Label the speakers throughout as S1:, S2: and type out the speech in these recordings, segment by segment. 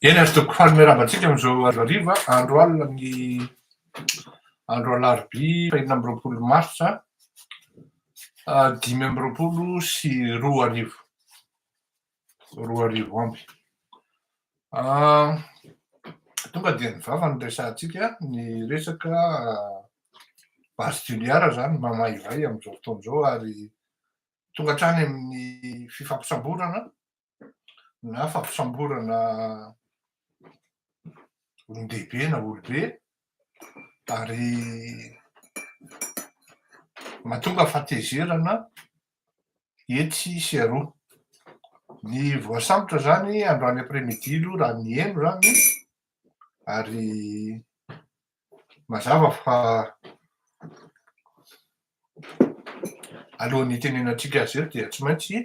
S1: Eny ary tokoko faly miarahaba antsika amin'izao hariva andro alina amin'ny andro alarobia enina amby roapolo marsa dimy amby roapolo sy roa arivo. roa arivo amby. Tonga dia ny vava no resahantsika, ny resaka base Toliara izany mamaivay amin'izao fotoana izao ary tonga hatrany amin'ny fifampisamborana na fampisamborana olon-dehibe na olobe ary mahatonga fatezerana etsy sy eroa. Ny voasambotra izany androany après midi aloha raha ny heno izany ary mazava fa alohan'ny hitenenantsika azy eto dia tsy maintsy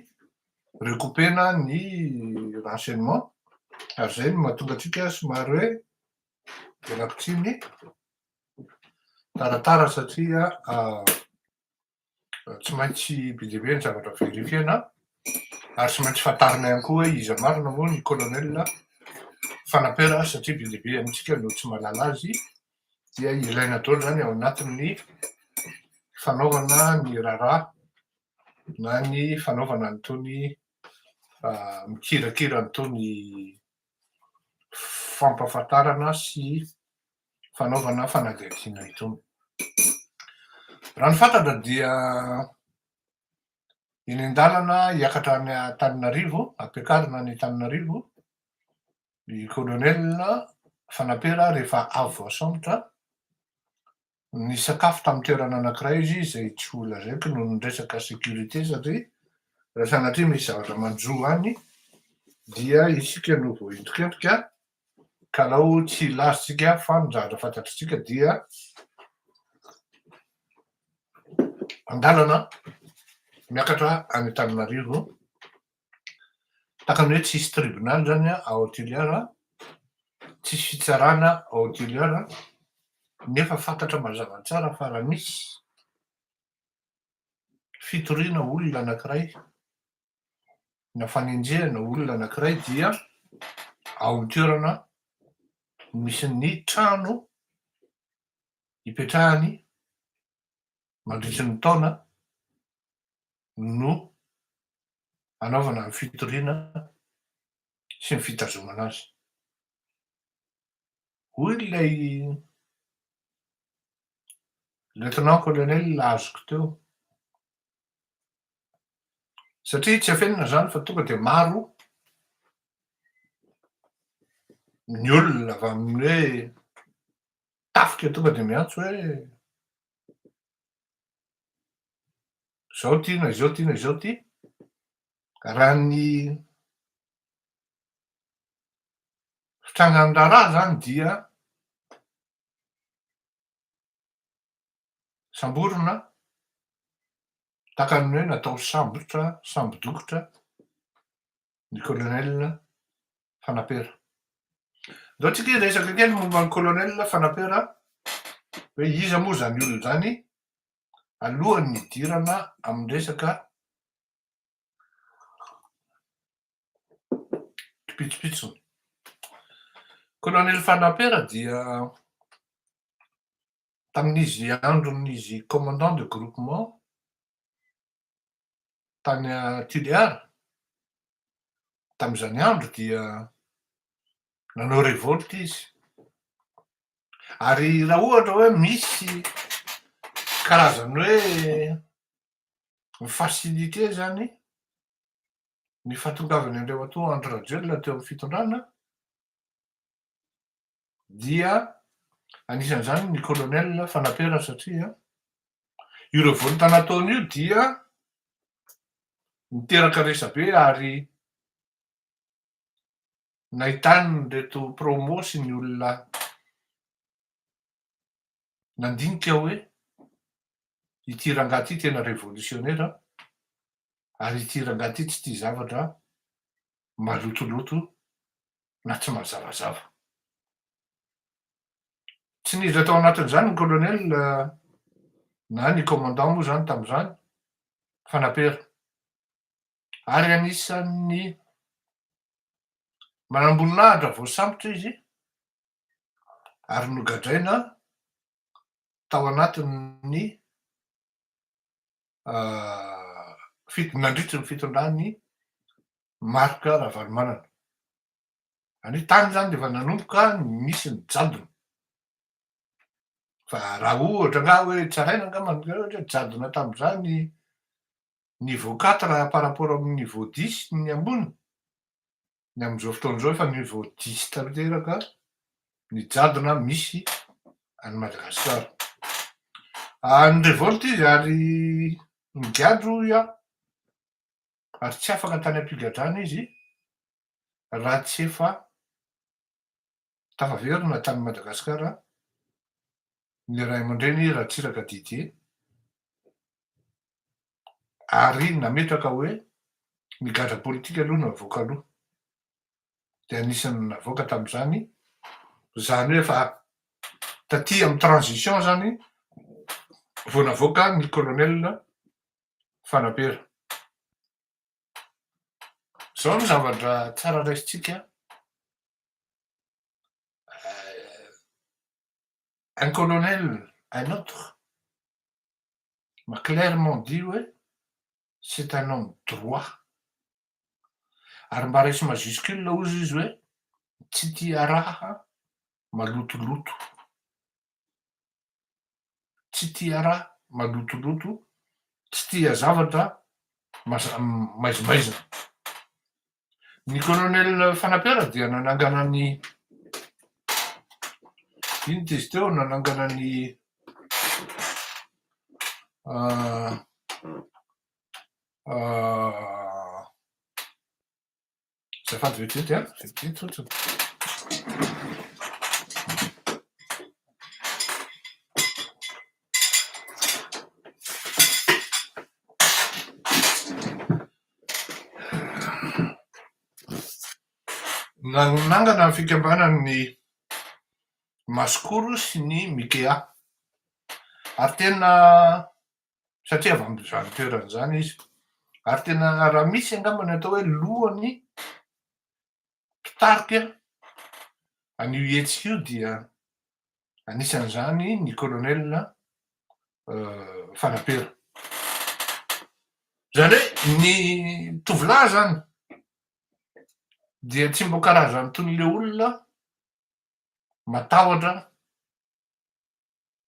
S1: recoupena ny renseignement ary izay no mahatonga antsika somary hoe vela pitsiny taratara satria tsy maintsy be dia be ny zavatra verifiena ary tsy maintsy fantarina ihany koa hoe iza marina moa ny colonel Fanampera satria be dia be amintsika no tsy mahalala azy dia ilaina daholo izany ao anatin'ny fanaovana ny raharaha na ny fanaovana an'itony ah, mikirakira an'itony fampafantarana sy fanaovana fanadihadiana itony. Raha ny fantatra dia eny an-dalana hiakatra any Antananarivo, ampiakarina any Antananarivo, ny kolonela Fanampera rehefa avy voasambotra, nisakafo tamin'ny toerana anankiray izy izay tsy ho lazaiko noho ny resaka sécurité satria raha sanatria misy zavatra manjo any dia isika no voaentin-kentrika Kalao tsy ilazontsika fa ny zavatra fantatritsika dia an-dalana miakatra any Antananarivo, takany hoe tsisy tribonaly zany ao Toliara, tsisy fitsarana ao Toliara nefa fantatra mazava tsara fa raha misy fitoriana olona anankiray na fanenjehana olona anankiray dia ao amin'ny toerana misy ny trano ipetrahany mandritry ny taona no anaovana ny fitoriana sy ny fitazomana azy. Hoy ilay lieutenant colonel azoko teo, Satria tsy afenina izany fa tonga dia maro ny olona avy amin'ny hoe tafika tonga dia miantso hoe izao ity na izao ity na izao ity raha ny fitrangan'ny raharaha izany dia Samborina, takan'ny hoe natao sambotra, sambo-dokotra, ny Colonel Fanapera. Ndao tsika hiresaka kely momba an'i Colonel Fanapera hoe iza moa izany olona izany alohan'ny hidirana amin'ny resaka kipitsopitsony. Colonel Fanapera dia Tamin'izy andron'izy commandant de groupement tany Tulear, tamin'izany andro dia nanao revolte izy. Ary raha ohatra hoe misy karazany hoe mi-faciliter izany ny fahatongavan'i Andriamatoa Andry Rajoelina teo amin'ny fitondrana, dia anisan'izany ny colonel Fanaperana satria io revolte nataony io dia niteraka resabe ary nahitany reto promo sy ny olona nandinika aho hoe ity rangahy ity tena revolisiônera ary ity rangahy ity tsy tia zavatra malotoloto na tsy mazavazava. Tsy niditra tao anatin'izany ny colonel na ny commandant moa izany tamin'izany fa napera. Ary anisan'ny manamboninahitra voasambotra izy ary nogadraina tao anatin'ny nandritry ny fitondran'i Marc Ravalomanana. Any tany izany dia efa nanomboka nisy ny jadona. Fa raha ohatra nga hoe tsaraina nga manokana ohatra jadona tamin'izany niveau quatre par rapport amin'ny niveau dix ny ambony ny amin'izao fotoana izao efa ny vao diso tanteraka ny jadona misy any Madagascar. Ah, ny revolte izy ary nigadra hoy aho, ary tsy afaka tany am-pigadrana izy raha tsy efa Tafaverina tany Madagasikara ny ray aman-dreny Ratsiraka Didier ary nametraka hoe ny gadra politika aloha no avoaka aloha. Dia anisan'ny navoaka tamin'izany, izany hoe efa taty amin'ny transition izany vao navoaka ny colonel Fanapera. Izao no zavatra tsara raisintsika an, un colonel un autre m'a clairement dit hoe c'est un homme droit ary mba resy majuscule hozy izy hoe tsy tia raha malotoloto. tsy tia raha malotoloto, tsy tia zavatra maizimaizina. Ny Colonel Fanampera dia nanangana ny inona izy teo, nanangana ny Azafady vetivety an, vetivety fotsiny. Nanangana ny fikambanan'ny Masikoro sy ny Mikea. Ary tena satria avy amin'izany toerana izany izy. Ary tena raha misy angamba ny atao hoe lohan'ny mpitarika an'io hetsika io dia anisan'izany ny colonel Fanapera. Izany hoe ny tovolahy izany dia tsy mba karazan'itony ilay olona matahotra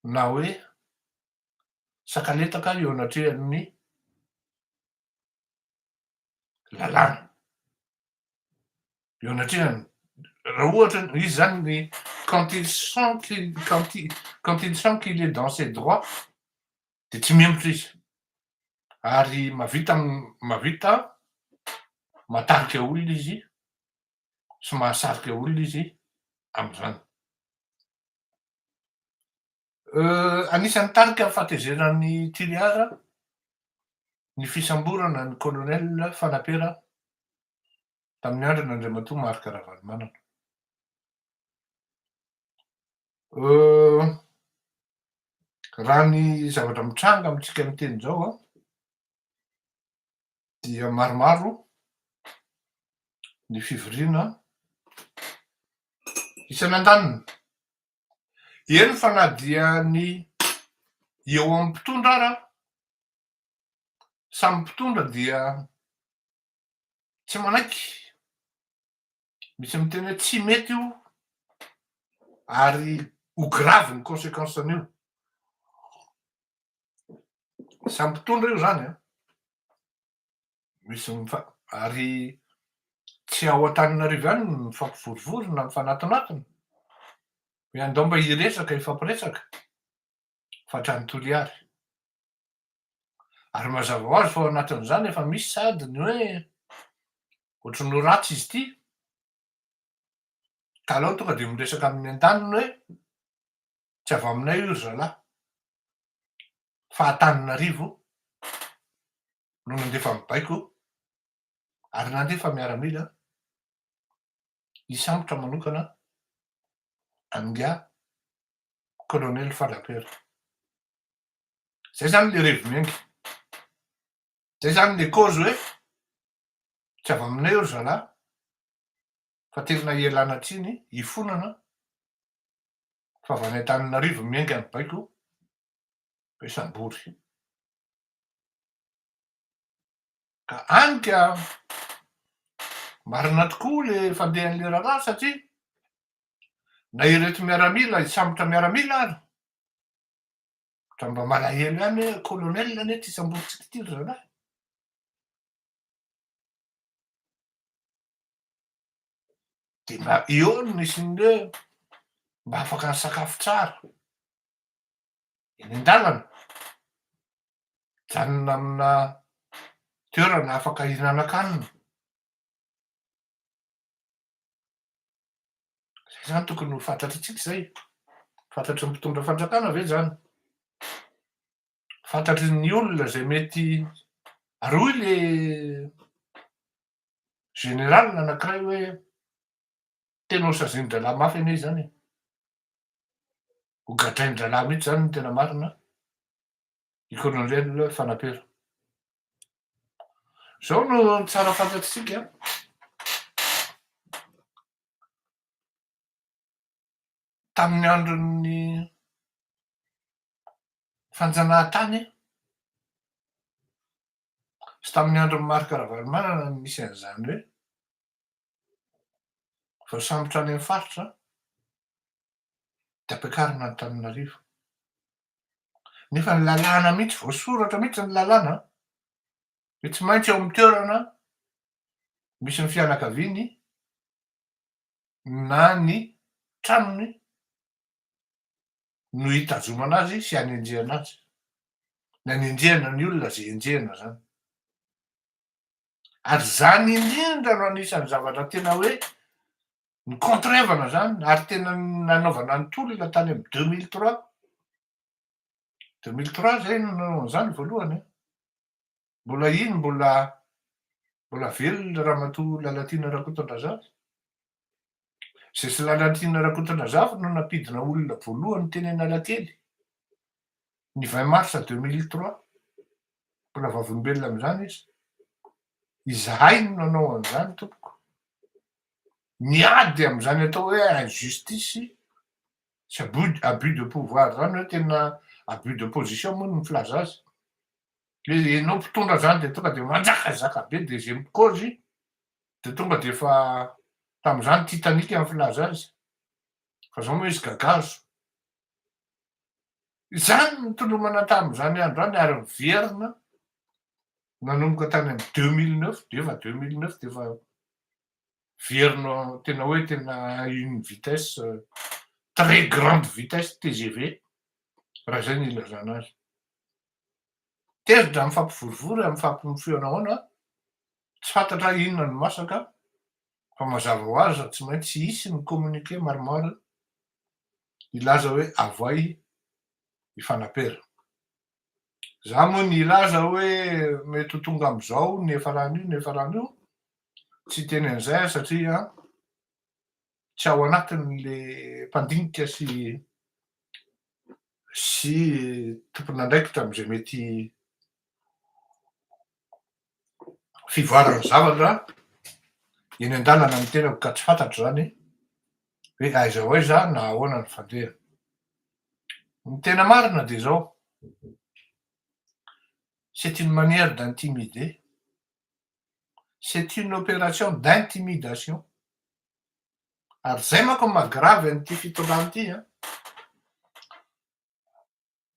S1: na hoe sakanetaka eo anatrehan'ny lalàna, eo anatrehan'ny raha ohatra izy zany ny quand il sent qu'il quand il quand il sent qu'il est dans ses droits dia tsy mihemotra izy ary mahavita mahavita matarika olona izy sy mahasarika olona izy amin'izany. Anisan'ny tarika fahatezeran'i Toliara ny fisamborana ny Colonel Fanapera tamin'ny andrana Andriamatoa Marc Ravalomanana. Raha ny zavatra mitranga amintsika miteny izao an, dia maromaro ny fivoriana isany andaniny. Eny fa na dia ny eo amin'ny mpitondra ara, samy mpitondra dia tsy manaiky Misy miteny hoe tsy mety io ary ho grave ny consequence an'io. Samy mpitondra io zany an. Misy mifa ary tsy ao Antananarivo ihany ny mifampivorivory na mifanatonatona. Hoe andao mba hiresaka, hifampiresaka fa hatrany Toliary. Ary mazava ho azy fa ao anatin'izany efa misy sady ny hoe ohatry ny ho ratsy izy ity, ka aleo tonga dia miresaka amin'ny an-taniny hoe tsy avy aminay io ry zalahy, fa Antananarivo no nandefa ny baiko ary nandefa miaramila hisambotra manokana an'ingahy Kolonely Fadapera. Zay zany le revenue. Zay zany le cause hoe tsy avy aminay eo ry zalahy fa tena ialana tsiny ifonana fa avy any Antananarivo miainga ny baiko be sambory. Ka any ka marina tokoa le fandehan'le raharaha satria na ireto miaramila hisambotra miaramila ary Ohatran'ny mba malahelo ihany hoe colonel anie ity samborintsika ity ry zalahy. Dia mba eo no misy ny hoe mba afaka nisakafo tsara. Eny an-dalana. Mijanona amina toerana afaka hihinanan-kanina. Izay izany tokony ho fantatritsika izay. Fantatry ny mpitondra fanjakana ve izany? Fantatry ny olona izay mety, ary hoy le général anankiray hoe tena ho sazian-drahalahy mafy anie izany e! Ho gadrain-drahalahy mihitsy izany ny tena marina an! i Colonel Fanapera. Izao no ny tsara fantatsika tamin'ny andron'ny fanjanahantany sy tamin'ny andron'ny Marc Ravalomanana no nisy an'izany hoe voasambotra any amin'ny faritra dia ampiakarina Antananarivo. Nefa ny lalàna mihitsy, voasoratra mihitsy ny lalàna hoe tsy maintsy eo amin'ny toerana misy ny fianakaviany na ny tranony no hitazomana azy sy hanenjehana azy. Ny hanenjehana ny olona izay enjehina izany. ary zany indrindra no anisany zavatra tena hoe nikontrevana zany ary tena nanaovana ny tolona tany am deux mille trois deux mille trois zay no nanao an'zany voalohany e mbola iny mbola mbola velona ramatoa Lalatiana Rakotondrazafy Zesilalatrina Rakotondrazafy no nampidina olona voalohany teny Analakely, ny vingt mars deux mille trois. Mbola vavolombelona amin'izany izy. Izahay no nanao an'izany, tompoko. Miady amin'izany atao hoe injustice sy abus, abus de pouvoir izany hoe tena abus de position moa no filaza azy. Hoe ianao mpitondra izany dia tonga dia manjakazaka be dia izay mikozy Dia tonga dia efa tamin'izany Titanic no filaza azy, fa izao moa izy gagazo. Izany no nitolomana tamin'izany andro izany ary niverina nanomboka tany amin'ny deux mille neuf dia efa deux mille neuf dia efa niverina tena hoe tena une vitesse très grande vitesse TGV raha izay no ilazana azy. Tezitra, mifampivorivory ary mifampimofoy anahoana? Tsy fantatra inona no masaka, fa mazava ho azy fa tsy maintsy tsy hisy ny communiqué maromaro hilaza hoe avoay hifanapera. Za moa ny hilaza hoe mety ho tonga amin'izao ny efa rano io, ny efa rano io, tsy hiteny an'izay aho satria tsy ao anatin'le mpandinika sy sy tompon'andraikitra amin'izay mety fivoaran'ny zavatra eny an-dalana ny tenako ka tsy fantatro izany hoe aiza ho aiza na ahoana ny fandehany. Ny tena marina dia izao, c'est une manière d'intimider, c'est une opération d'intimidation, ary zay manko no maha gravy an'ity fitondràna ity an!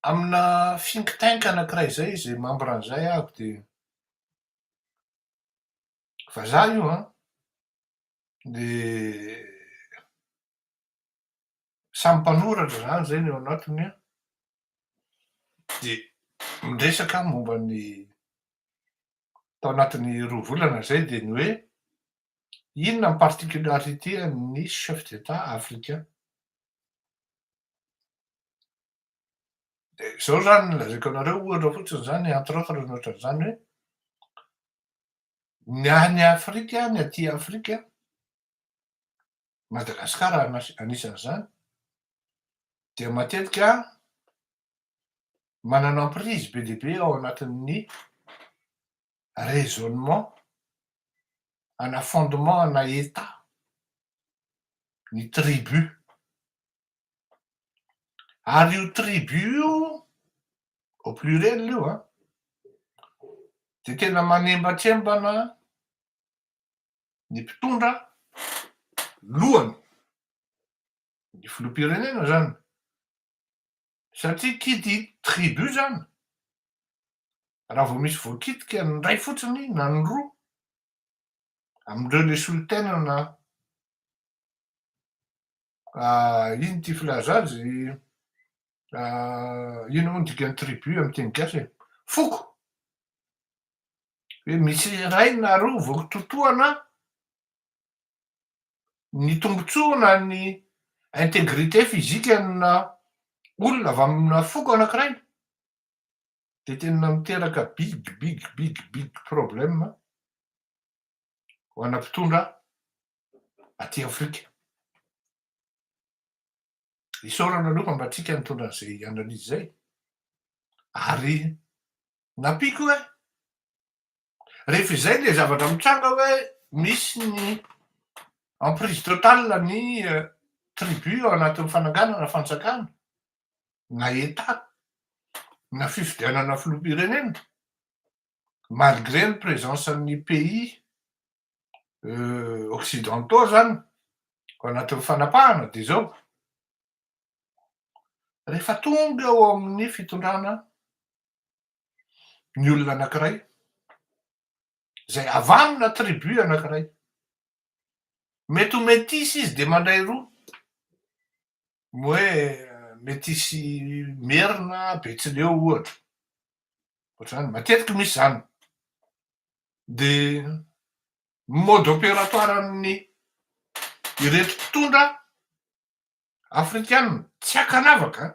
S1: amina think tank anankiray zay izy membre an'izay avy dia vazaha io an! dia samy mpanoratra zany zay ny ao anatiny an! dia miresaka momba ny tao anatin'ny roa volana izay dia ny hoe, inona ny particularité an'ny chef d'Etat africain? Dia izao izany no lazaiko anareo ohatra fotsiny izany entre autres ny ohatran'izany hoe, ny any Afrika, ny aty Afrika, Madagasikara anisan'izany, dia matetika manana emprise be dia be ao anatin'ny raisonnement ana fondement ana Etat ny tribu. Ary io tribu io, au pluriel io an, dia tena manembatrembana ny mpitondra lohany, ny filoham-pirenena izany, satria kidy tribu zany raha vao misy voakitika ny ray fotsiny na ny roa amindreo le solontenana ino ity filaza azy ino moa ny dikan'ny tribu amin'ny teny gasy e foko hoe misy iray na roa voatontohana ny tombontsoa na ny integrite physique ana olona avy amina foko anankiray dia tena miteraka big big big big problème ho ana mpitondra aty afrika. Isaorana aloha fa mba tika nitondra an'izay analyse izay ary nampiako hoe Rehefa izay ilay zavatra mitranga hoe misy ny emprise totale ny euh, tribu ao anatin'ny fananganana fanjakana na etat na fifidianana filoham-pirenena malgré ny présence an'ny pays euh, occidentaux zany ao anatin'ny fanapahana dia zao rehefa tonga ao amin'ny fitondrana ny olona anankiray izay avy amina tribu anankiray. Mety ho metisy izy dia mandray roa. Ny hoe metisy merina, betsileo ohatra. Ohatr'izany, matetiky misy izany. Dia mode opératoire-n'ny ireto mpitondra afrikanina, tsy ankanavaka an!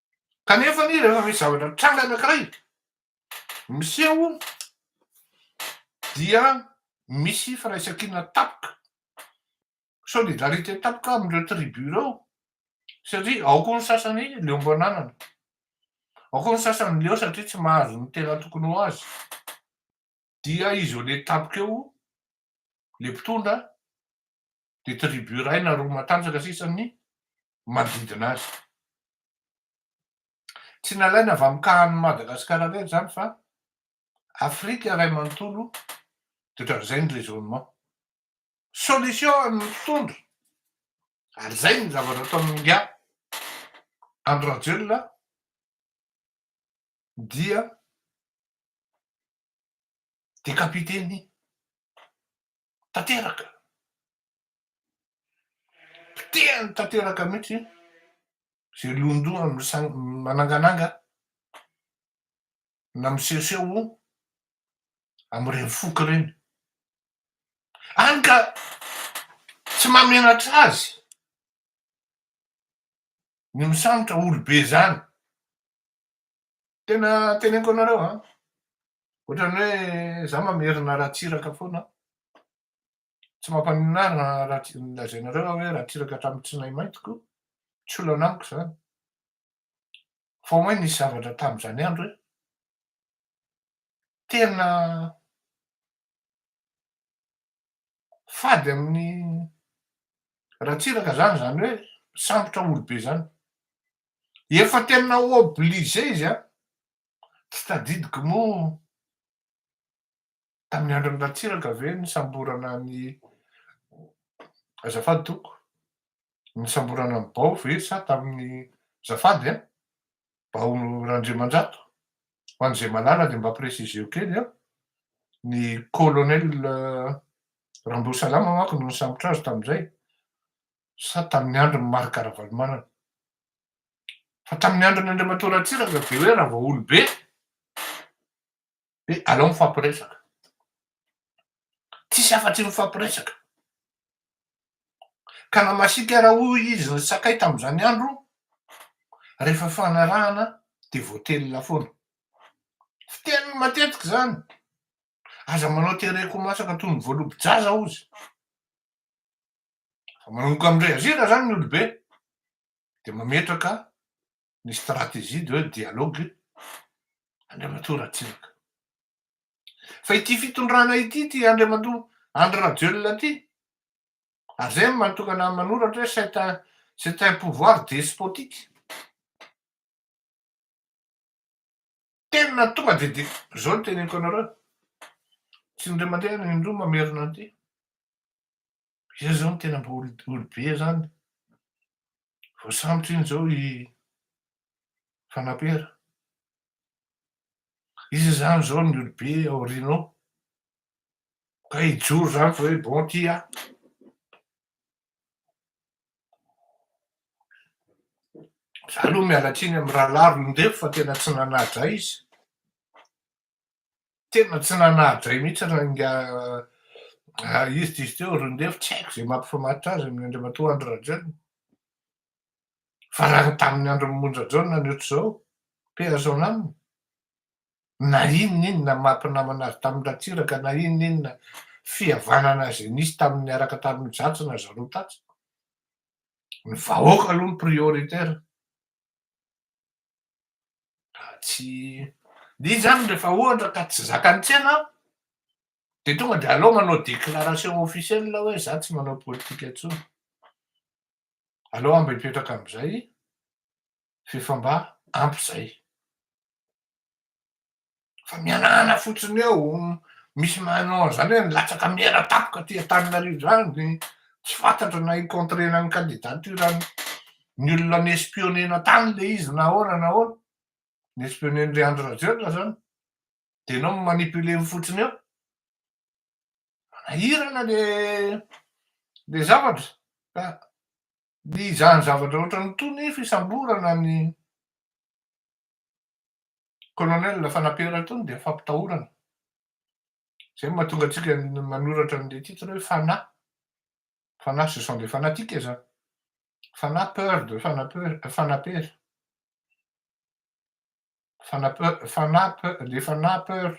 S1: Kanefa anie rehefa misy zavatra mitranga anankiray, miseho dia misy firaisan-kina tapaka, solidarité tapaka amin'ireo tribu ireo satria ao koa ny sasany leo am-pananana, ao koa ny sasany leo satria tsy mahazo ny tena tokony ho azy, dia isolé tapaka eo ilay mpitondra dia tribu iray na roa matanjaka sisa ny manodidina azy. Tsy nalaina avy amin'ny kahan'ny Madagascar irery izany fa Afrika iray manontolo dia ohatran'izay ny raisonnement. Solution amin'ny mpitondra ary izay ny zavatra ataon'ny ingahy Andry Rajoelina dia décapiter ny tanteraka. Potehiny tanteraka mihitsy izay lohandohany manangananga na misehoseho amin'ireny foko ireny. Hany ka tsy mahamenatra azy ny misambotra olobe izany. Tena teneniko anareo an, ohatrany hoe za mamerina Ratsiraka foana an, tsy mampaninona ahy ny lazainareo aho hoe Ratsiraka hatramin'ny tsinaimaintiko, tsy olana amiko izany, fa au moins nisy zavatra tamin'izany andro hoe tena fady amin'ny Ratsiraka zany zany hoe misambotra olobe zany efa tena obligé izy an! tsy tadidiko moa tamin'ny andron'i Ratsiraka ve nisamborana an'i azafady tompoko nisamborana an'i Bao ve sa tamin'ny zafady an! Bao Randriamanjato, ho an'izay mahalala dia mba préciser-o kely an! Ny colonel Ramboasalama manko no nisambotra azy tamin'izay, sa tamin'ny andron'i Marc Ravalomanana? Fa tamin'ny andron'Andriamatoa Ratsiraka dia hoe Ravaolobe! Dia aleo mifampiresaka. Tsisy afa-tsy ny mifampiresaka. Ka na masiaka ara hoy izy ry Sakay tamin'izany andro, rehefa fanarahana dia voatelina foana. Fiteniny matetika izany. Aza manao tereko ho masaka toy ny voalobo-jaza hozy. Fa manomboka amin'ny reazira izany ny olobe dia mametraka ny stratégie de dialogue Andriamatoa Ratsiraka. Fa ity fitondrana ity ity Andriamatoa Andry Rajoelina ity, ary zay mahatonga anah manoratra hoe c'est un c'est un pouvoir despotique. Tena tonga de de zao no teneniko anareo, tsy indray mandeha na indroa mamerina an'ity. Izay izao no tena mba olobe izany. Voasambotra iny izao i Fanapera. Iza izany izao ny olobe aorianao? Ka hijoro izany fa hoe bon ity aho. Za aloha miala tsiny amin'ny rahalahy Rolindefo fa tena tsy nanadra izy. Tena tsy nanadray mihitsy ranga izy dizy teo ry Ndefo, tsy haiko izay mampifamaritra azy amin'ny Andriamatoa Andry Rajoelina. Fa raha tamin'ny andron'i Monja Jaona ny ohatr'izao, paix à son âme, na inona inona maha mpinamana azy tamin'i Ratsiraka, na inona inona fihavanana izay nisy tamin'ny niaraka tamin'i Jatsy na Zalo Tatsy, ny vahoaka aloha no prioritaire. raha tsy dia izy zany rehefa ohatra ka tsy zakan'ny tsena dia tonga dia alao manao déclaration officielle hoe za tsy manao politika intsony alao aho mba hipetraka amin'izay f'efa mba ampy izay fa mianahana fotsiny eo misy manao an'izany hoe milatsaka miara-tampoka aty Antananarivo izany dia tsy fantatra na hi-contrer-na ny candidature-n'ny olona ni-espionner-na tany ilay izy na ahoana na ahoana, ni-espionner-n'dry Andry Rajoelina izany dia ianao mi-manipuler fotsiny eo, manahirana ilay ilay zavatra ka ny izany zavatra ohatran'itony fisamborana ny. Colonel Fanampera itony dia fampitahorana. Izay no mahatonga antsika manoratra an'ilay titre hoe Fanahy. Fanahy ce sont des fanatiques izany. Fanahy peur de Fanampera, Fanampera. Fanampera, Fanahy peur, les Fanahy peur.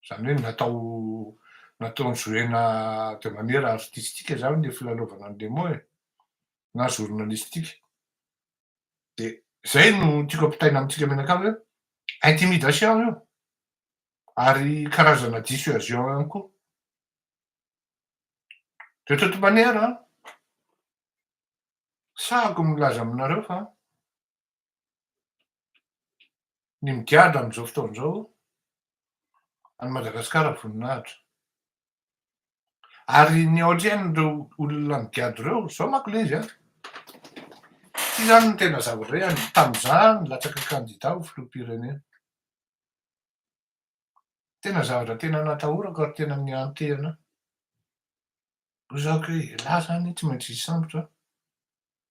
S1: Izany hoe natao natao nizoena de manière artistique izany ilay filalaovana an'i Nemo e. Na journalistique. dia zay no tiako ampitaina amintsika mianakavy hoe intimidation io ary karazana dissuasion ihany koa de toute manière an sahako milaza aminareo fa ny migadra amin'izao fotoana izao any madagasikara voninahitra Ary ny aorian'ireo olona migadro ireo, izao manko ilay izy an! Tsy izany no tena zava-drehany tamin'izaho nilatsaka kandida ho filoham-pirenena. Tena zavatra tena natahorako ary tena nihanteana ho izao koa hoe elah izany tsy maintsy hisambotra aho,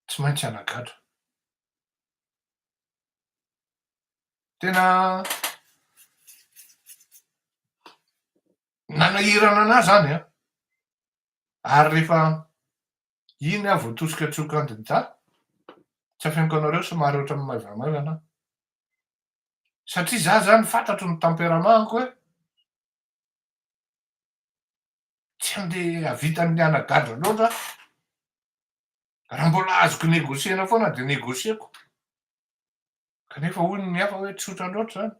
S1: tsy maintsy hanagadra. Tena. nanahirana anah zany an! ary rehefa iny aho voatosika tsy ho kandida, tsy afeniko anareo somary ohatran'ny maivamaivana aho, satria zah zany fantatro ny tempérament-ko hoe tsy handeha hahavita ny mianagadra loatra aho, raha mbola azoko negocier-na foana dia negocier-ko, kanefa hoy ny hafa hoe tsotra loatra zany.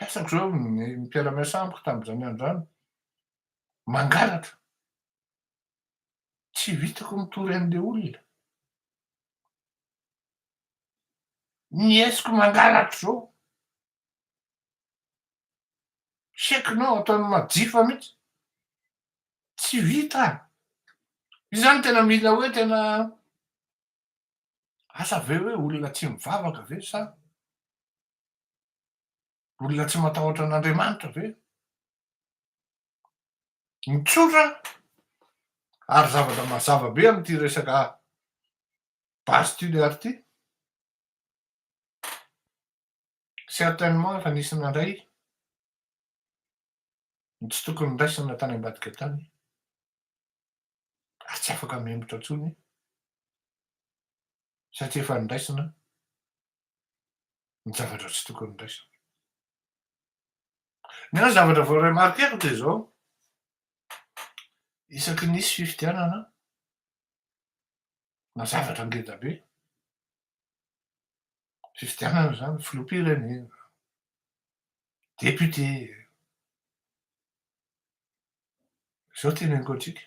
S1: Resako izao ny mpiara-miasa amiko tamin'izany andro izany, mangalatra. Tsy vitako mitory an'ilay olona. Niesiko mangalatra izao. Check-nao ataon'ny majifa mihitsy. Tsy vita. Izany tena mila hoe tena asa ve hoe olona tsy mivavaka ve sa Olona tsy matahotra an'Andriamanitra ve? Ny tsotra ary zavatra mazava be amin'ity resaka base tuléar ity, certainement efa nisy nandray ny tsy tokony niraisana tany ambadika tany ary tsy afaka mihemotra intsony satria efa niraisina ny zavatra tsy tokony resaka. Ny ahy zavatra vao remarqueko dia izao, isaky nisy fifidianana na zavatra ngeda be, fifidianana izany filoham-pirenena, député, izao teneniko antsika.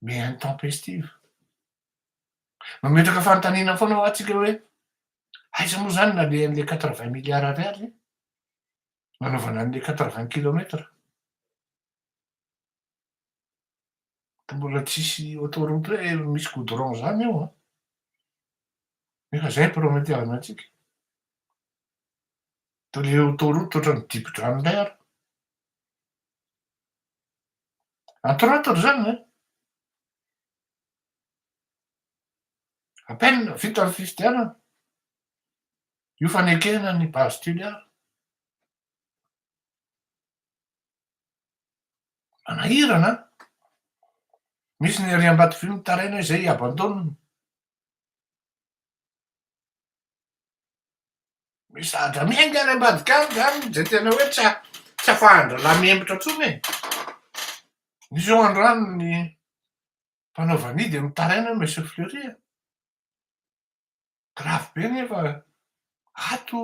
S1: mais intempestive. Mametraka fanontaniana foana ho antsika hoe aiza moa izany nalehan'ilay quatre vingt milliards ariary nanaovana an'ilay quatre vingt kilomètres. Ka mbola tsisy autoroute hoe misy goudron izany eo an. Nefa izay prometer-na antsika. Dia ilay autoroute ohatran'ny dibo-drano indray ary. Atorotoro zany an! A peine vita ny fifidianana, io fanekena ny base Toliara. Manahirana an! Misy ny ery Ambatovy mitaraina izay abandoniny. Mizatra miainga any ambadika any zany izay tena hoe tsy tsy afahan-drahalahy mihemotra intsony e! Misy eo an-drano ny mpanao vanihy dia mitaraina hoe Monsieur Fleury a! Grave be nefa ato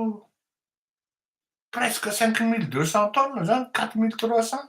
S1: presque cinq mille deux cents tonnes zany, quatre mille trois cents.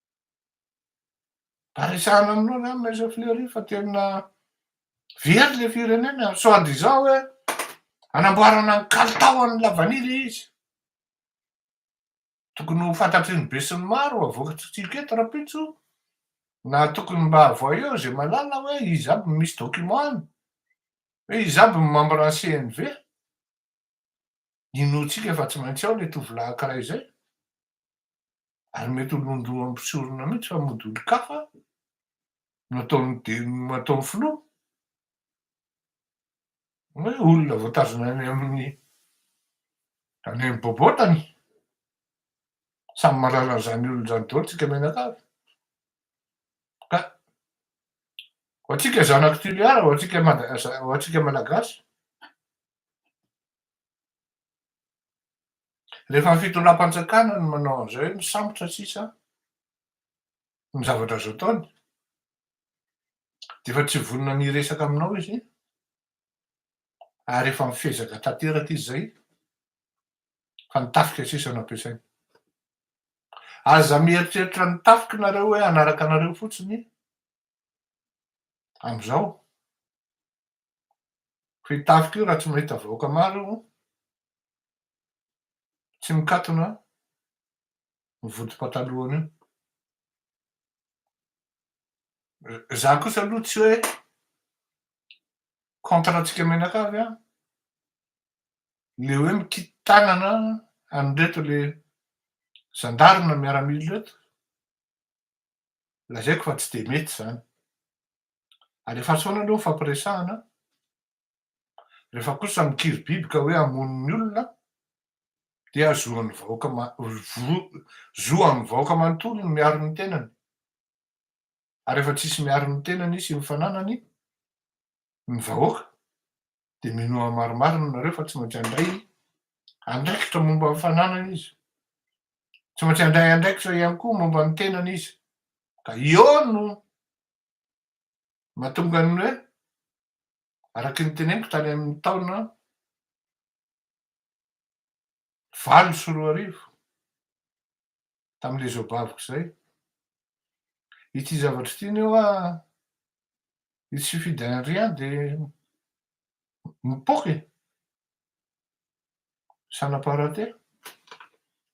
S1: Mba resahana aminao zany Maître Fleury fa tena very le firenena e, soit disant hoe anamboarana ny kalitao an'ny lavanila ilay izy. Tokony ho fantatry ny besinimaro ho avoakantsika eto rahampitso na tokony mba voyons izay mahalala hoe iza aby no misy document any, hoe iza aby no membre ny CNV. Inoantsika fa tsy maintsy ao ilay tovolahy ankiray izay, ary mety ho londohan'ny mpisorona mihitsy fa mody olon-kafa no ataon'ny filoha. Hoe olona voatazona any amin'ny any amin'ny bobotany. Samy mahalala an'izany olona izany daholo isika mianakavy. Ka ho antsika zanak'i Toliara, ho antsika Malagasy, Rehefa ny fitondram-panjakana no manao an'izay hoe misambotra sisa ny zavatra azo ataony dia efa tsy vonona ny hiresaka aminao izy ary efa mifezaka tanteraka izy izay fa ny tafika sisa no ampiasainy. Aza mieritreritra ny tafika nareo hoe hanaraka anareo fotsiny amin'izao. Fa io tafika io raha tsy mahita vahoaka maro io, tsy mikatona ny vodim-patalohany io. Za kosa aloha tsy hoe contre antsika mianakavy an, le hoe mikiky tanana an'ireto le zandary na miaramila ireto, lazaiko fa tsy dia mety izany. Alefaso foana aloha ny fampiresahana, rehefa kosa mikiribiby ka hoe hamono ny olona dia zo an'ny vahoaka ma- vo- zo amin'ny vahoaka manontolo ny miaro ny tenany. Ary efa tsisy miaro ny tenany sy ny fananany ny vahoaka. dia mino amin'ny marimarina ianareo fa tsy maintsy handray andraikitra momba amin'ny fananany izy. Tsy maintsy handray andraikitra ihany koa momba ny tenany izy. Ka eo no mahatonga ny hoe araka ny teneniko tany amin'ny taona valo sy roa arivo tamin'ilay zobaviko izay. Ity zavatra ity ny hoa i tsy fidy anriany dia mipoka e. Ça n'a pas raté.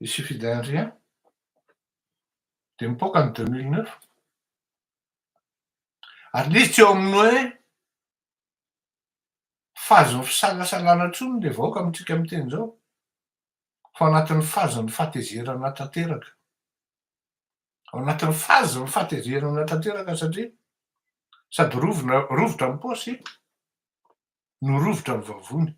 S1: I tsy fidy anriany dia mipoka ny 2009. Ary nisy tsy eo amin'ny hoe fahazoan'ny fisalasalana intsony ilay vahoaka amintsika amin'ny teny izao. ho anatin'ny fazan'ny fahatezerana tanteraka. Ao anatin'ny fazan'ny fahatezerana tanteraka satria sady rovina, rovitra amin'ny paosy no rovitra amin'ny vavony.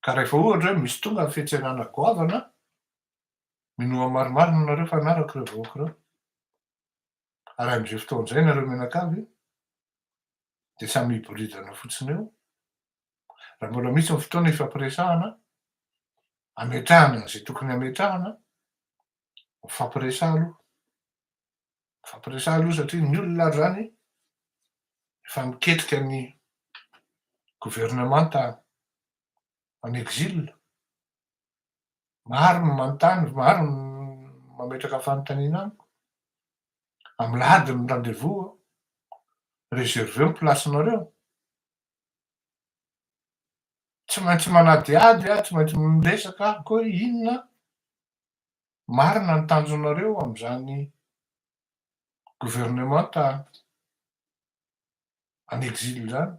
S1: Ka rehefa ohatra hoe misy tonga ny fiantsenana goavana, minoa marimarina nareo fa hanaraka ireo vahoaka ireo. Ary amin'izay fotoana izay nareo mianakavy dia samy hiboridana fotsiny eo Raha mbola misy ny fotoana ifampiresahana, ametrahana izay tokony hametrahana, mifampiresaha aloha. Mifampiresaha aloha satria ny olona ary izany efa miketrika ny governemanta en exil. Maro ny manontany, maro ny mametraka fanontaniana amiko. Amilahady ny rendez-vous, reserveo ny place-nareo. Tsy maintsy manadihady aho, tsy maintsy miresaka aho koa hoe inona marina ny tanjonareo amin'izany governemanta en exil izany?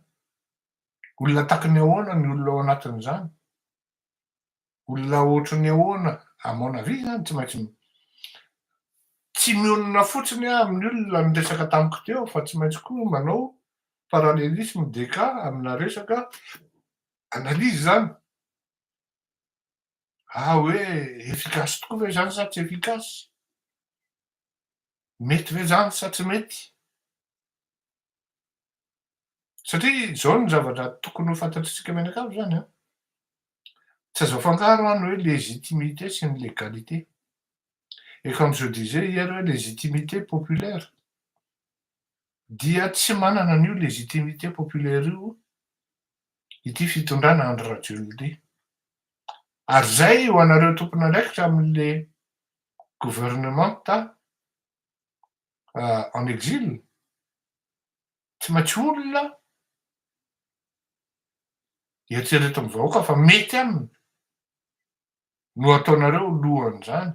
S1: Olona takiny ahoana ny olona ao anatin'izany? Olona ohatry ny ahoana à mon avis zany tsy maintsy tsy mionona fotsiny aho amin'ny olona niresaka tamiko teo fa tsy maintsy koa manao parallelisme des cas amina resaka analyse zany ah hoe efficace tokoa ve zany sa tsy efficace mety ve zany sa tsy mety Satria izao no zavatra tokony ho fantatr'isika mianakavy izany an! Tsy azo afangaro an ny hoe légitimité sy ny légalité. Et comme je disais hier hoe légitimité populaire dia tsy manana an'io légitimité populaire io ity fitondrana Andry Rajoelina ity. Ary izay ho anareo tompon'andraikitra amin'ilay gouvernementa en exil, tsy maintsy olona eritreretin'ny vahoaka fa mety aminy no ataonareo lohan'izany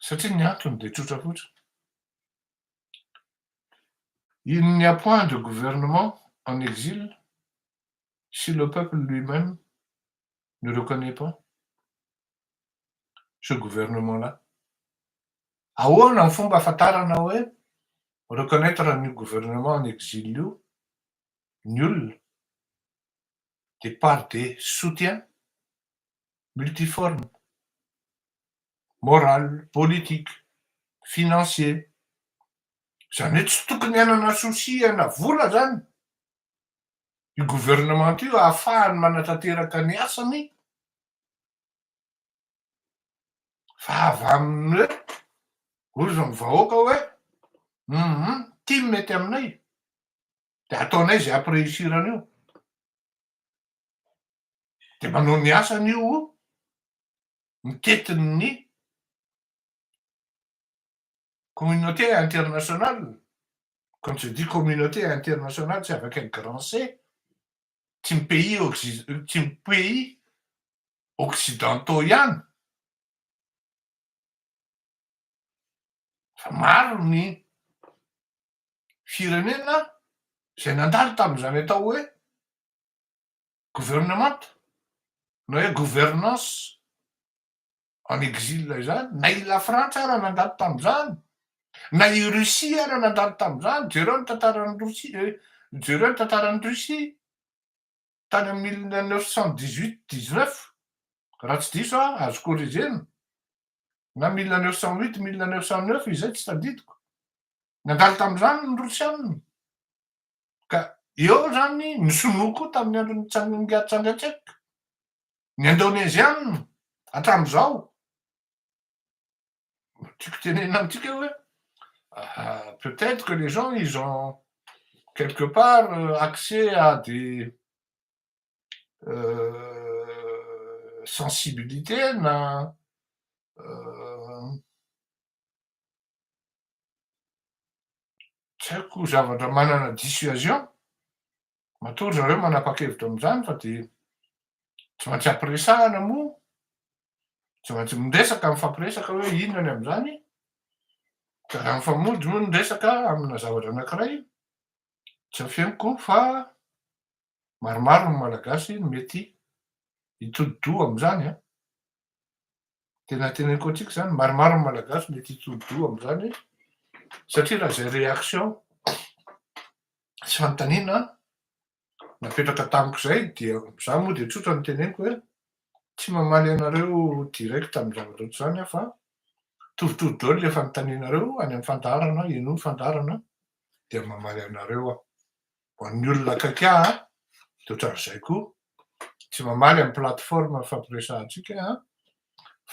S1: satria ny antony dia tsotra fotsiny, il n'y a point de gouvernement en exil si le peuple lui-même ne reconnais pas ce gouvernement là. Ahoana ny fomba ahafantarana hoe reconnaitre an'io gouvernement en exil io ny olona? Dia par des soutiens multiformes, morales, politiques, financiers. Izany hoe tsy tokony hanana souci hanavola izany io gouvernement io ahafahany manatanteraka ny asany fa avy amin'ny hoe hozy ny vahoaka hoe hum ity no mety aminay de ataonay zay ampireusirana io de manao ny asany io mitety ny Communauté internationale, quand je dis communauté internationale c'est avec un grand C, tsy ny pays oxi, tsy ny pays occidentaux ihany fa maro ny firenena izay nandalo tamin'izany atao hoe gouvernemanta na hoe gouvernance en exil izany, na i Lafrantsa ara nandalo tamin'izany, na i Russie ara nandalo tamin'izany, jereo ny tantaran'i Rosia eh, jereo ny tantaran'i Russie tany amin'ny mille neuf cent dix huit dix neuf raha tsy diso aho, azo corriger-na, na mille neuf cent huit mille neuf cent neuf izay tsy tadidiko, nandalo tamin'izany ny Rosiana. Ka eo izany ny sinoa koa tamin'ny andron'i Tsangambiato Tsangatsek, ny indoneziana hatramin'izao. Tiako tenenina amintsika hoe peut-être que les gens ils ont quelque part euh, accès à des euh, sensibilités na euh, Tsy haiko zavatra manana dissuasion. Matoa ry zareo manapa-kevitra amin'izany fa dia tsy maintsy ampiresahana moa. Tsy maintsy miresaka, mifampiresaka hoe inona ny amin'izany. Ka raha mifamojo moa ny resaka amina zavatra anankiray, tsy afeniko fa Maromaro ny Malagasy no mety hitodi-doha amin'izany an! Tena teneniko antsika izany, maromaro ny Malagasy no mety hitodi-doha amin'izany satria raha izay réaction sy fanontaniana napetraka tamiko izay dia izaho moa dia tsotra no teneniko hoe tsy mamaly anareo direct amin'ny zavatra ohatry izany aho fa torotoro daholo ilay fanontanianareo any amin'ny fandaharana, henoy ny fandaharana dia mamaly anareo aho. ho an'ny olona akaiky ahy an, dia ohatran'izay koa, tsy mamaly amin'ny plateforme ifampiresahantsika an,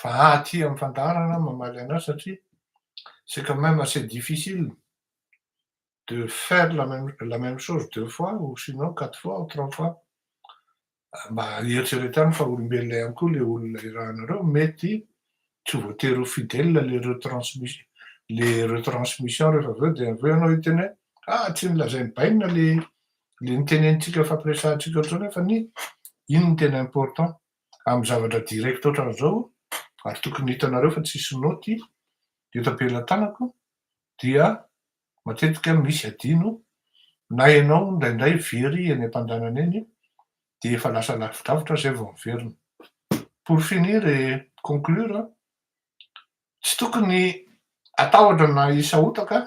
S1: fa aty amin'ny fandaharana aho mamaly anao satria c'est quand même assez difficile de faire la même chose deux fois ou sinon quatre fois ou trois fois Mba eritreretano fa olombelona ihany koa le olona irahanareo, mety tsy voatery ho fidèle le retransmission le retransmission rehefa avy eo dia avy eo ianao hiteny hoe ah tsy nolazain'i bainina le le nitenenintsika fampiresahantsika ohatr'izao nefa ny iny no tena important amin'ny zavatra direct ohatran'izao ary tokony hitanareo fa tsisy naoty eto am-pelatanako dia matetika misy adino na ianao indraindray very eny ampandanana eny dia efa lasa lavidrafitra zay vao miverina. Pour finir et conclure, tsy tokony atahotra na hisahotaka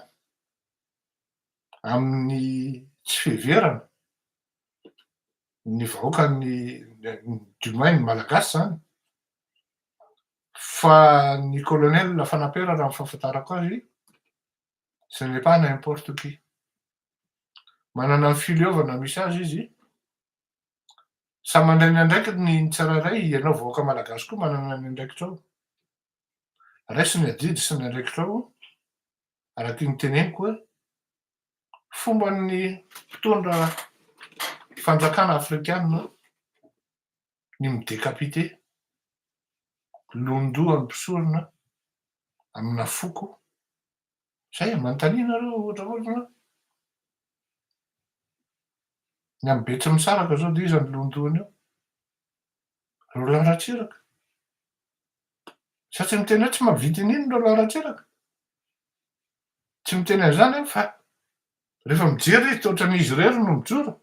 S1: amin'ny tsy fiheverana ny vahoaka ny du moins ny malagasy zany fa ny colonel Fanapera raha ny fahafantarako azy Ce n'est pas n'importe qui. Manana ny fileovana misy azy izy Samy mandray ny andraikiny ny tsirairay, ianao vahoaka malagasy koa manana ny andraikitrao. Raiso ny adidy sy ny andraikitrao, araka ny teneniko hoe fomban'ny mpitondra fanjakana afrikanina ny mi-decapiter, lohan-doha mpisorona amina foko, izay e, manontania nareo ohatra fotsiny hoe, ny amin'ny Betsimisaraka izao dia iza no lohan-dohany eo? Roland Ratsiraka, satria miteny hoe tsy mahavita in'iny Roland Ratsiraka, tsy miteny an'izany aho fa rehefa mijery izy dia ohatran'izy irery no mijoro,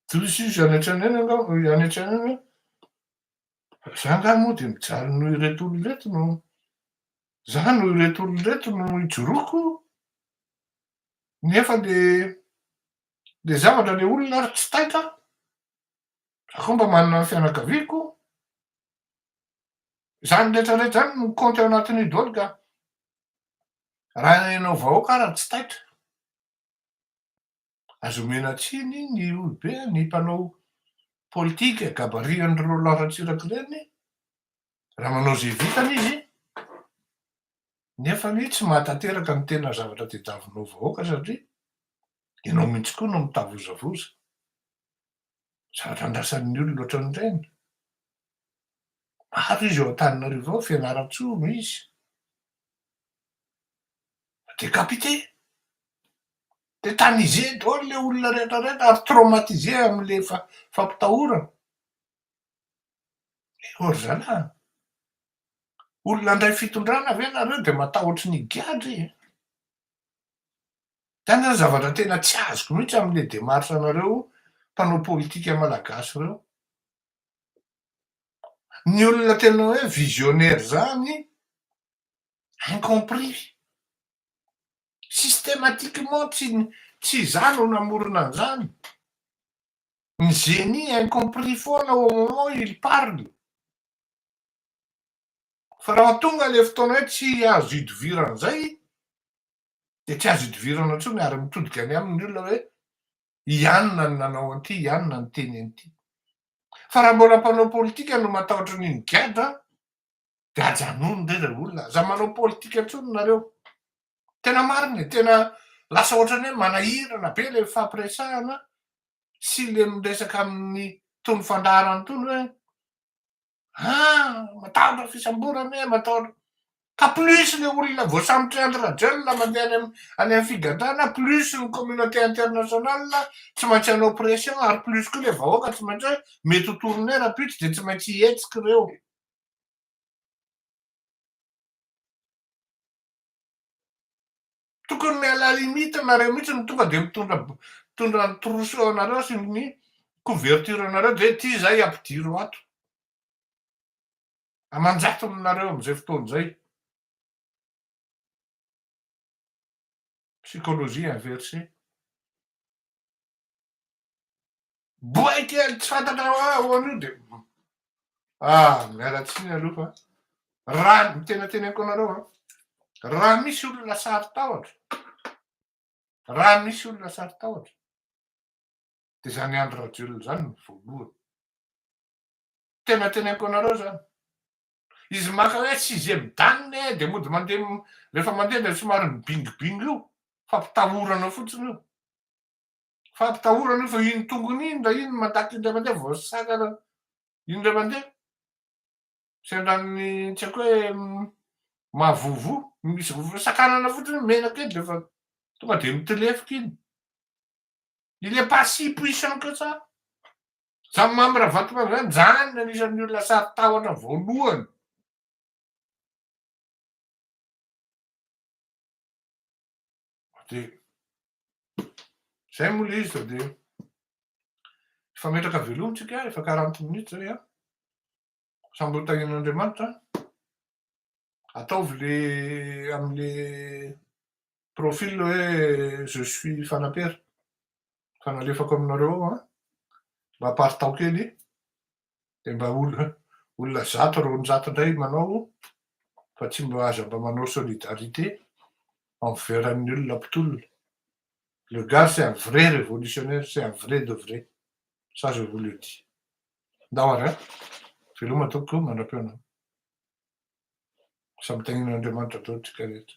S1: Diso izy any an-tranainy angamba any an-tsainy any hoe za angaha moa dia mijaly noho ireto olona ireto no, za noho ireto olona ireto no ijoroako, nefa le le zavatra le olona ary tsy taitra, za koa mba manana ny fianakaviako, zany rehetra rehetra zany no kaonty ao anatin'io daholo ka raha ianao vahoaka ary tsy taitra. Aza omena tsiny ny olobe ny mpanao politika gabarian'ireo Roland Ratsiraka ireny raha manao izay vitany izy nefa ny tsy mahatanteraka ny tena zavatra tedavonao vahoaka satria ianao mihitsy koa no mitavozavoza Zavatra andrasan'ny olona ohatran'ireny. Maro izy eo Antananarivo ao, Fianarantsoa no izy. Decapité. Tétanisé daholo ilay olona rehetra rehetra ary traumatisé amin'ilay fampitahorana. Ewa ry zalahy. Olona handray fitondrana ve nareo dia matahotry ny gadra e. Zany zany zavatra tena tsy azoko mihitsy amle demarche anareo mpanao politika malagasy reo. Ny olona tena hoe visionnaire zany incompris. Systematiquement tsy tsy za no namorona anzany. Ny génie incompris foana au moment où il parle. Fa raha tonga le fotoana hoe tsy azo idoviranzay dia tsy azo idivirana intsony ary mitodika any aminy ny olona hoe ianona ny nanao an'ity, ianona ny niteny an'ity. Fa raha mbola mpanao politika no matahotra an'iny gadra dia ajanony re ilay olona, aza manao politika intsony nareo. Tena marina e, tena lasa ohatran'ny hoe manahirana be ilay fifampiresahana sy ilay miresaka amin'ny itony fandaharana itony hoe Ha! matahotra fisamborana e, matahotra ka plus le olona voasambotry Andry Rajoelina mandeha any am any am figadrana plus ny communauté international tsy maintsy hanao pression ary plus koa le vahoaka tsy maintsy hoe mety ho tourner rahampitso de tsy maintsy hihetsiky reo. Tokony miala limite nareo mihitsy no tonga dia mitondra mitondra ny trousseau anareo sy ny couverture anareo dia ity zay ampidiro ato. Aman-jatony nareo amin'izay fotoana izay. Psychologie inversée. Boay kely tsy fantatra hoe ahoana io dia ah miala tsiny aloha fa raha ny tena teneniko anareo a raha misy olona sarotahotra raha misy olona sarotahotra dia izany Andry Rajoelina izany no voalohany tena teneniko anareo izany izy maka hoe sixième dan e dia mody mandeha rehefa mandeha dia somary mibingibingy io fampitahorana fotsiny io Fampitahorana io fa iny tongony iny raha iny mandaty indray mandeha vao sakana indray mandeha. Sendran'ny tsy haiko hoe mahavovo, misy vovo, sakanana fotsiny mena kely dia efa tonga dia mitlefoka iny. Il est pas si puissant que ça. Zany Mamy Ravatomanga zany, zany no anisan'ny olona sarotahotra voalohany. Dia izay moa ilay izy fa dia efa metraka veloma tsika, efa quarante minutes izay an. Samby ho tahian'Andriamanitra. Ataovy le amin'le profil hoe je suis Fanampera. Efa nalefako aminareo ao an. Mba aparitaho kely. dia mba olona zato roanjato indray manao fa tsy mba aza mba manao solidarité envers ny olona mpitolona. Le gars c'est un vrai révolutionnaire, c'est un vrai de vrai. Ça je vous le dis. Ndao ary an, veloma tompoko, mandrapeo anao. Samy tanin'Andriamanitra daholo tsika rehetra.